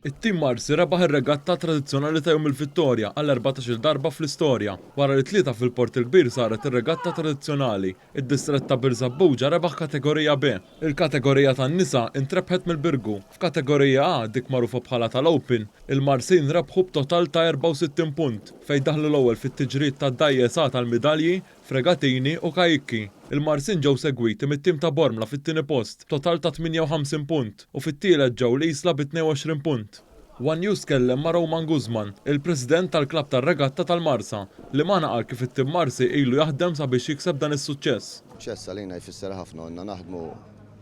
It-Team Marsi rebaħ ir-regatta tradizzjonali ta' Jum il-Vittorja għall-erbatax-il darba fl-istorja. Wara li tlieta fil-Port il-Kbir saret ir-regatta tradizzjonali, id-distrett ta' Birżebbuġa rebaħ Kategorija B. Il-Kategorija tan-Nisa intrebħet mill-Birgu. F'Kategorija A, dik magħrufa bħala tal-Open, il-Marsin rebħu b'total ta' 64 punt, fejn daħlu l-ewwel fit-tiġrijiet tad-Dajjes A tal-midalji Fregatini u Kajikki. Il-Marsin ġew segwiti mit-tim ta' Bormla fit-tieni post b'total ta' 58 punt u fit-tielet ġew l-Isla bi 22 punt. One News tkellem ma' Roman Guzman, il-President tal-Klabb tar-Regatta tal-Marsa, li magħna qal kif it-tim Marsi ilu jaħdem sabiex jikseb dan is-suċċess. Suċċess għalina jfisser ħafna u ilna naħdmu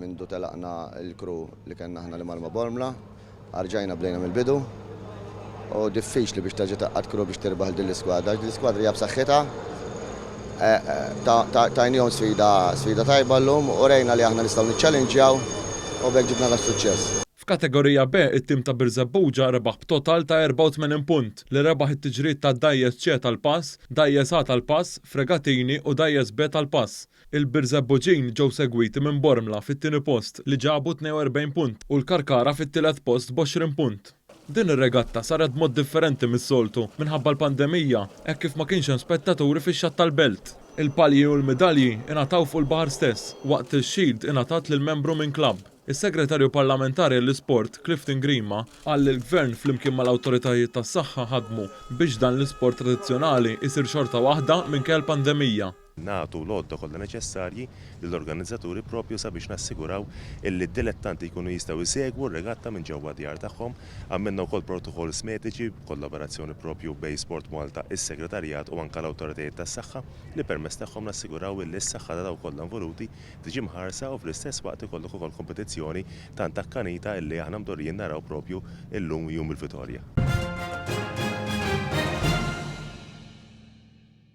Mindu telaqna l-crew li kellna aħna li mal-ma Bormla, arġajna bdejna mill-bidu u diffiċli biex terġa' tgħaqqad crew biex tirbaħ 'l din l-iskwadra għax din l-iskwadra hija b'saħħitha. Tajnihom sfida sfida tajba llum, urejna li aħna nistgħu niċċallinġjaw u b'hekk ġibna das-suċċess. F'Kategorija B, it-tim ta' Birżebbuġa rebaħ b'total ta' 84 punt, li rebaħ it-tiġrijiet ta' Dgħajjes C tal-pass, Dgħajjes A tal-pass, Fregatini u Dgħajjes B tal-pass. Il-Birżebbuġin ġew segwiti minn Bormla fit-tieni post li ġabu 42 punt u l-Karkara fit-tielet post b'għoxrin punt. Din ir-regatta saret b'mod differenti mis-soltu minħabba l-pandemija hekk kif ma kienx hemm spettaturi fix-Xatt tal-Belt. Il-palji u l-midalji ingħataw fuq il-baħar stess waqt li x-shield ingħatat lil membru minn klabb. Is-Segretarju Parlamentari għall-Isport, Clifton Grima, qal li l-Gvern flimkien mal-awtoritajiet tas-saħħa ħadmu biex dan l-isport tradizzjonali jsir xorta waħda minkejja l-pandemija. nagħtu l-għodda kollha neċessarji lill-organizzaturi propju sabiex nassiguraw illi d-dilettanti jkunu jistgħu jsegwu r-regatta minn ġewwa d-djar tagħhom. Għamilna wkoll protokolls mediċi b'kollaborazzjoni propju bejn SportMalta, is-Segretarjat u anke l-awtoritajiet tas-saħħa li permezz tagħhom nassiguraw illi s-saħħa ta' dawk kollha involuti tiġi mħarsa u fl-istess waqt ikollok ukoll kompetizzjoni tant akkanita illi aħna mdorrijin naraw propju illum Jum il-Vitorja.